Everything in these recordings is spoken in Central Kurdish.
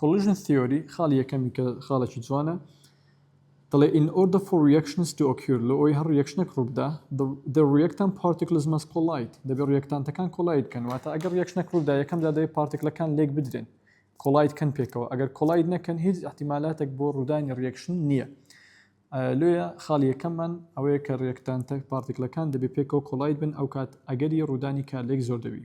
Collision Theory خاڵی یەکەمی کە خاڵێکی جوانە دەڵێ In order for reactions to occur لۆ ئەوەی هەر ڕیەکشنێک ڕووبدا the, the reactant particles must collide دەبێت ڕیەکتانتەکان کۆلایت بکەن واتە ئەگەر ڕیەکشنێک ڕوودا یەکەم جا دەبێت پارتیکلەکان لێک بدرێن کۆلایت کەن پێکەوە ئەگەر کۆلایت نەکەن هیچ احتیمالاتێک بۆ ڕوودانی ڕیەکشن نییە لێە خاڵی یەکەممان ئەوەیە کە ڕێکتان تەک پارتیکلەکان دەبێت پێکەوە کۆلایت بن ئەو کات ئەگەری ڕوودانی کارلێک زۆر دەبی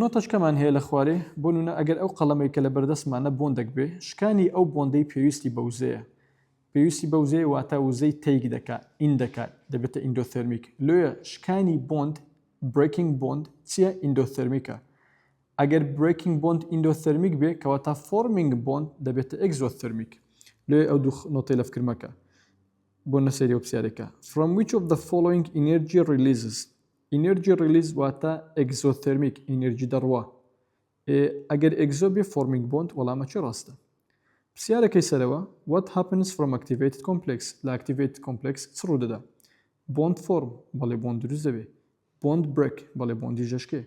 نۆتەچکەمان هەیە لە خوارێ، بۆ نونە ئەگەر ئەو قەڵەمەی کە لە بەردەستمانە بۆندەک بێ، شکانی ئەو بۆندەی پێویستی بە وزەیە. پێویستی بە وزەیە واتە وزەی تەیک دەکا، ئین دەکا، دەبێتە ئیندۆثێرمیک. لۆیە شکانی بۆند، Breaking Bond، چیە؟ ئیندۆثێرمیکە. ئەگەر Breaking Bond ئیندۆثێرمیک بێ کەواتە Forming Bond دەبێتە ئێکزۆثێرمیک. لۆیە ئەو دوو نۆتەی لە فکر مەکە. بۆ نەسەیرەوە پسیارێکە. From which of the following energy releases؟ ئینێرجی ڕیلیز واتە ئێگزۆثێرمیک ئینێرجی دەڕوا ئێ ئەگەر ئێگزۆ بێ فۆرمینگ بۆند وەڵامە چی ڕاستە پرسیارەکەی سەرەوە وات هاپنس فرۆم ئەکتیڤێتد کۆمپلێکس لە ئەکتیڤێتد کۆمپلێکس چ ڕوو دەدا بۆند فۆرم بەڵێ بۆند دروست دەبێ بۆند برێک بەڵێ بۆندی ژەشکێ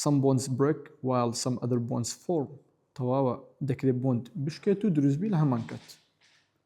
سم بۆنس برێک وایل سم ئەدر بۆنس فۆرم تەواوە دەکرێت بۆند بشکێت و دروستبی لە هەمان کات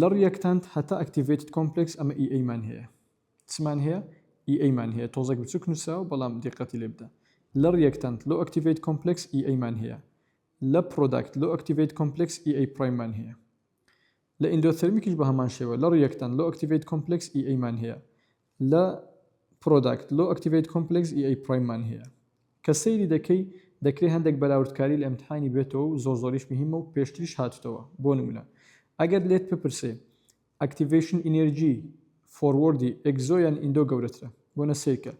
لە ڕیەکتانت هەتا ئەکتیڤەیتد کۆمپلێکس ئەمە ئی ئەی مان هەیە چمان هەیە ئی ئەی مان هەیە تۆزێک بچوک نوسراوە بەڵام دیقەتی لێ بدە لە ڕیەکتانت لۆ ئەکتیڤەیت کۆمپلێکس ئی ئەی مان هەیە لە پرۆداکت لۆ ئەکتیڤەیت کۆمپلێکس ئی ئەی پڕایم مان هەیە لە ئیندۆثێرمیکیش بە هەمان شێوە لە ڕیەکتانت لۆ ئەکتیڤەیت کۆمپلێکس ئی ئەی مان هەیە لە Product Low Activate Complex ی ئەی پڕایم مان هەیە کە سەیری دەکەی دەکرێ هەندێک بەراوردکاری لە ئیمتحانی بێتەوە و زۆر زۆریش مهیمە و پێشتریش هاتوتەوە بۆ نمونە ئەگەر لێت بپرسێ Activation Energy Forward ی Exo یان Indo گەورەترە بۆنە سەیرکە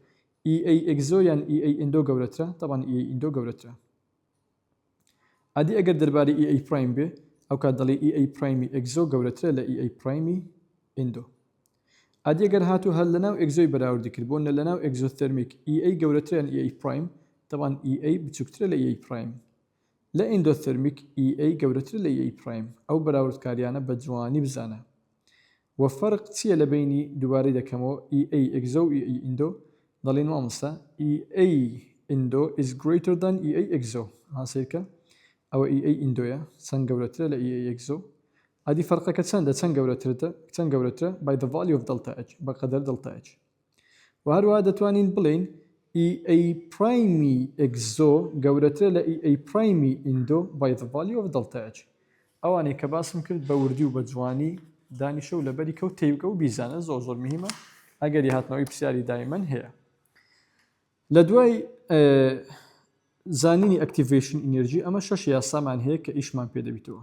EA Exo یان EA Indo گەورەترە تەبعەن EA Indo گەورەترە. ئەدی ئەگەر دەربارەی ئی ئەی پڕایم بێ ئەوکات دەڵێی ئی ئەی پڕایمی ئێکزۆ گەورەترە لە ئی ئەی پڕایمی ئیندۆ ئەدی گەر هاتوو هەر لەناو ئێکزۆی بەراوردی کرد بۆ نە لەناو ئێکزۆثێرمیک ئی ئەی گەورەترە لە ئی ئەی پڕایم تەبان ئی ئەی بچووکترە لە ئی ئەی پڕایم لە ئیندۆثێرمیک ئی ئەی گەورەترە لە ئی ئەی پڕایم ئەو بەراوردکاریانە بە جوانی بزانە وە فەرق چیە لە بەینی دوبارەی دەکەمەوە ئی ئەی ئێگزۆ و ئی ئەی ئیندۆ دەڵێی مامۆستا؟ ئی ئەی ئیندۆ ئیز گرەیتەر دان ئی ئەی ئێگزۆ ها سەیرکە ئەوە ئی ئەی ئیندۆیە چەند گەورەترە لە ئی ئەی ئێگزۆ ئەدی فەرقەکە چەندە چەند گەورەترتە چەند گەورەترە بای دە ڤالیو ئۆف دەڵتا ئێچ بە قەدەر دەڵتا ئێچ. و هەروەها دەتوانین بڵێین ئی ئەی پرایمی ئێکزۆ گەورەترە لە ئی ئەی پرایمی ئیندۆ بای ذە ڤالیو ئۆف دەڵتا ئێچ. ئەوانەی کە باسم کرد بە وردی و بە جوانی دانیشە و لەبەری کەو تێیبگە و بیزانە زۆر زۆر مهیمە ئەگەری هاتنەوەی پرسیاری دایمەن هەیە لە دوای زانینی ئەکتیڤێشن ئینێرجی ئەمە شەش یاسامان هەیە کە ئیشمان پێ دەبیتەوە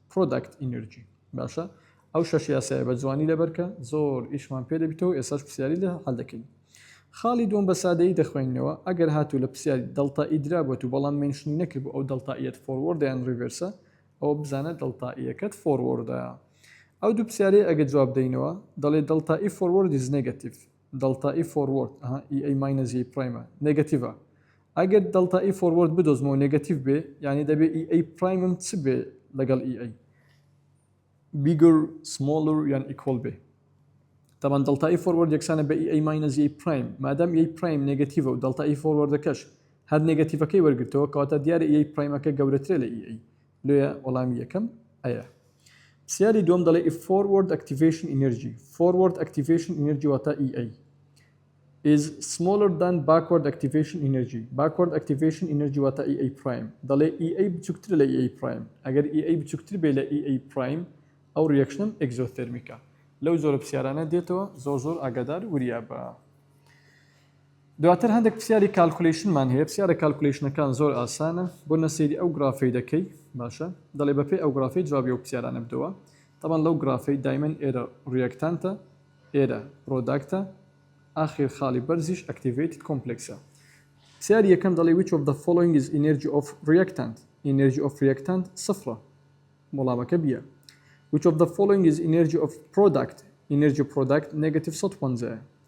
Product Energy باشە ئەو شەش یاسایە بە جوانی لەبەرکە زۆر ئیشمان پێ دەبیتەوە ئێساش پرسیاری لە هەل دەکەین خاڵی دوم بە سادەیی دەخوێنینەوە ئەگەر هاتوو لە پرسیاری دڵتا ئیدرا بۆت و بەڵام منشنی نەکرد بۆ ئەو دڵتائیەت فۆروەردە یان ڕیڤێرسە ئەوە بزانە دڵتائیەکەت فۆروەردە ئەو دوو پرسیارەی ئەگە جواب دەینەوە دەڵێ دڵتائی فۆروەردیز نێگەتیڤ دەڵتا ئی فۆروەرد ئەها ئی ئەی ماینەس یەی پرایمە نێگەتیڤە ئەگەر دەڵتا ئی فۆروەرد بدۆزمەوە نێگەتیڤ بێ یانی دەبێ ئی ئەی پرایمم چ بێ لەگەڵ ئی ئەی بیگەر سمۆڵر یان ئیکۆڵ بێ تەبان دەڵتا ئی فۆروەرد یەکسانە بە ئی ئەی ماینەس یەی پرایم مادەم یەی پرایم نێگەتیڤە و دەڵتا ئی فۆروەردەکەش هەر نێگەتیڤەکەی وەرگرتەوە کەواتە دیارە ئی ئەی پرایمەکە گەورەترە لە ئی ئەی لۆیە وەڵامی یەکەم ئەیە. پرسیاری دووەم دەڵێ ئیف فۆروەرد ئەکتیڤەیشن ئینێرجی، فۆروەرد ئەکتیڤەیشن ئینێرجی واتا ئی ئەی، ئیز سمۆڵەر دان باکوەرد ئەکتیڤەیشن ئینێرجی، باکوەرد ئەکتیڤەیشن ئینێرجی واتا ئی ئەی پڕایم، دەڵێ ئی ئەی بچووکترە لە ئی ئەی پڕایم، ئەگەر ئی ئەی بچووکتر بێ لە ئی ئەی پڕایم ئەو ڕیاکشنەم ئێکزۆثێرمیکە. لەو جۆرە پرسیارانە دێتەوە زۆر زۆر ئاگادار وریا بە. دواتر هەندێک پرسیاری کالکولیشنمان هەیە پرسیارە کالکولیشنەکان زۆر ئاسانە بۆ نەسەیری ئەو گرافەی دەکەی باشە دەڵێ بەپێی ئەو گرافەی جوابی و پرسیارانە بدەوە تەبان لەو گرافەی دایمەن ئێرە ڕیەکتانتە ئێرە پرۆداکتە ئاخیر خاڵی بەرزیش ئەکتیڤیتد کۆمپلکسە پرسیاری یەکەم دەڵێ which of the following is energy of reactant energy of reactant سفرە وڵامەکە بیە which of the following is energy of product energy product negative 150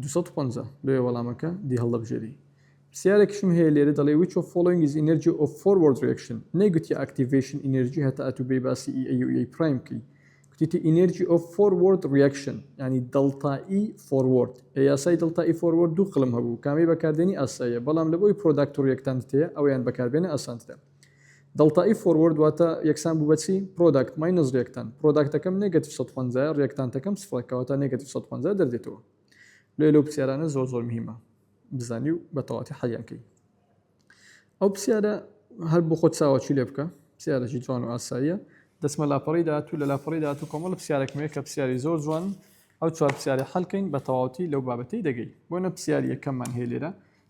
دوو سەد و پەنجا، لۆیە وەڵامەکە دی هەڵدەبژێری. پرسیارێکیشم هەیە لێرە دەڵێ which of following is energy of forward reaction نەیگوتیە ئاکتیڤەیشن ئینێرجی هەتا ئەتوو بێی باسی ئی ئەی و ئیەی پرایم بکەی گوتیتی ئینێرجی ئۆف فۆروەرد ڕیاکشن یعنی دەڵتا ئی فۆروەرد ئێ یاسای دەڵتا ئی فۆروەرد دوو قلم هەبوو کامەی بەکاردێنی ئاساییە بەڵام لەبۆی پرۆداکت و ڕیەکتانت هەیە ئەویان بەکاربێنە ئاسانترە دڵتائی فۆروەرد واتە یەکسان بوو بە چی؟ پرۆداکت ماینەس ریاکتانت پرۆداکتەکەم نێگەتیڤ سەد و پەنجا یە ریاکتانتەکەم سفرە کەواتە نێگەتیڤ سەد و پەنجا دەردێتەوە لۆیە لەو پرسیارانە زۆر زۆر مهیمە بزانی و بە تەواتی حەلیان کەی ئەو پرسیارە هەر بۆ خۆت چاوەچوو لێ بکە پرسیارێکی جوان و ئاساییە دەسمە لاپەڕی داهاتوو لە لاپەڕی داهاتوو کۆمەڵە پرسیارێکمەیە کە پرسیاری زۆر جوان ئەو چوار پرسیارە حەلکەین بە تەواوەتی لەو بابەتەی دەگەی بۆ نە پرسیاری یەکەممان هەیە لێرە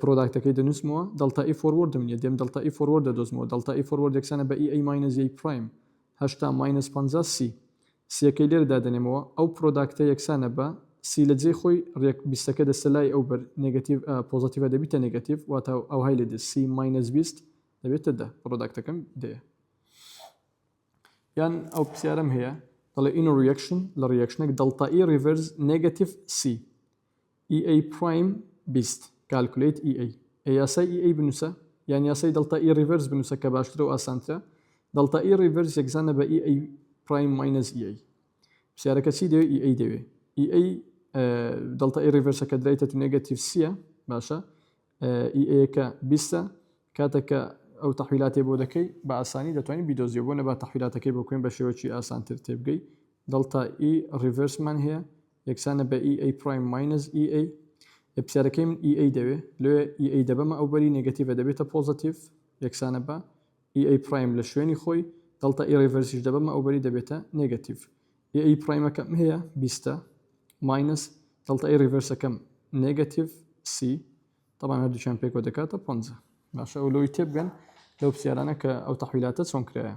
پرۆداکتەکەی دەنووسمەوە دەڵتا ئی فۆروەردم نیە دێم دەڵتا ئی فۆروەرد دەدۆزمەوە دەڵتا ئی فۆروەرد یەکسانە بە ئی ئەی ماینەس یەی پڕایم هەشتا ماینەس پەنجا سی سیەکەی لێرە دادەنێمەوە ئەو پرۆداکتە یەکسانە بە سی لە جێی خۆی ڕێک بیستەکە دەستە لای ئەو بەر نێگەتیڤ ئە پۆزەتیڤە دەبیتە نێگەتیڤ واتە ئەوهای لێ دێت سی ماینەس بیست دەبێتە دە پرۆداکتەکەم دەیە یان ئەو پرسیارم هەیە دەڵێ ئینۆ ڕیەکشن لە ڕیەکشنێک دەڵتا ئی ڕیڤەرز نێگەتیڤ سی ئی ئەی پڕایم بیست کالکولەیت ئی ئەی ئێ یاسای ئی ئەی بنووسە یان یاسای دەڵتا ئی ڕیڤەرس بنووسە کە باشترە و ئاسانترە دەڵتا ئی ڕیڤەرس یەکزانە بە ئی ئەی پڕایم ماینەس ئی ئەی پرسیارەکە چی دەوێ ئی ئەی دەوێ ئی ئەی دەڵتا ئی ڕیڤەرسە کە درایتە تو نێگەتیڤ سیە باشە ئی ئەیەکە بیستە کاتەکە ئەو تەحویلاتێ بۆ دەکەی بە ئاسانی دەتوانین بیدۆزیەوە بۆ نەبا تەحویلاتەکەی بۆ کوێن بە شێوەکی ئاسانتر تێبگەی دڵتا ئی ڕیڤرسمان هەیە یەکسانە بە ئی ئەی پڕایم ماینەس ئی ئەی ئێ پرسیارەکەی من ئی ئەی دەوێ لۆیە ئی ئەی دەبەمە ئەو بەری نێگەتیڤە دەبێتە پۆزەتیڤ یەکسانە بە ئی ئەی پڕایم لە شوێنی خۆی دەڵتا ئی ڕیڤەرسیش دەبەمە ئەو بەری دەبێتە نێگەتیڤ ئی ئەی پڕایمەکەم هەیە بیستە ماینەس دەڵتا ئی ڕیڤەرسەکەم نێگەتیڤ سی طبعا هەردووچیان پێکەوە دەکاتە پۆنجە باشە ئەو لۆی تێبگەن لەو پرسیارانە کە ئەو تەحویلاتە چۆن کرایە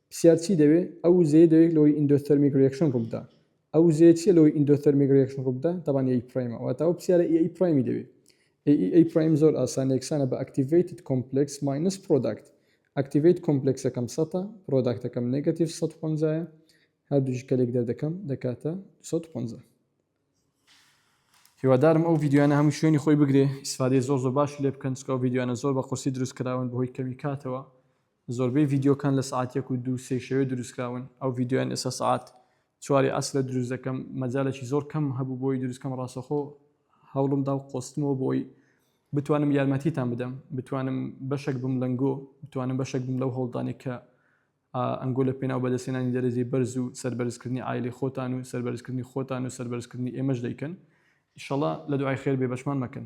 پسیار چی دەوێ؟ ئەو وزەیە دەوێ لەوەی ئیندۆثەرمیک ریەکشن ڕووبدا. ئەو وزەیە چیە لەوەی ئیندۆثەرمیک ریەکشن ڕووبدا؟ تەبان ئێ ئی پرایمە. واتە ئەو پسیارە ئێ ئی پرایمی دەوێ. ئێ ئی ئەی پرایم زۆر ئاسانە یەکسانە بە ئەکتیڤەیتد کۆمپلێکس ماینەس پرۆداکت. ئەکتیڤەیت کۆمپلێکسەکەم سەتە، پرۆداکتەکەم نێگەتیڤ سەد و پەنجا یە. هەردووکی کە لێک دەردەکەم دەکاتە دوو سەد و پەنجا. هیوادارم ئەو ڤیدیۆیانە هەموو شوێنی خۆی بگرێ ئیسفادەی زۆر زۆر باشی لێ بکەن چونکە ئەو ڤیدیۆیانە زۆر بە قورسی دروست کراون بەهۆی کەمی کاتەوە زۆربەی ڤیدیۆکان لە سەعات یەک و دوو سێی شەوێ دروستکراون ئەو ڤیدیۆیان ئێستا سەعات چواری عەسرە دروست دەکەم مەجالێکی زۆر کەم هەبوو بۆی دروستکەم ڕاستەخۆ هەوڵم دا و قۆستمەوە بۆی بتوانم یارمەتیتان بدەم بتوانم بەشێک بم لەنگۆ بتوانم بەشێک بم لەو هەوڵدانێک کە ئەنگۆ لە پێناو بەدەستێنانی دەرەجەی بەرز و سەربەرزکردنی ئایلی خۆتان و سەربەرزکردنی خۆتان و سەربەرزکردنی ئێمەش دەیکەن ئیشەڵا لە دوعای خێر بێ بەشمان مەکەن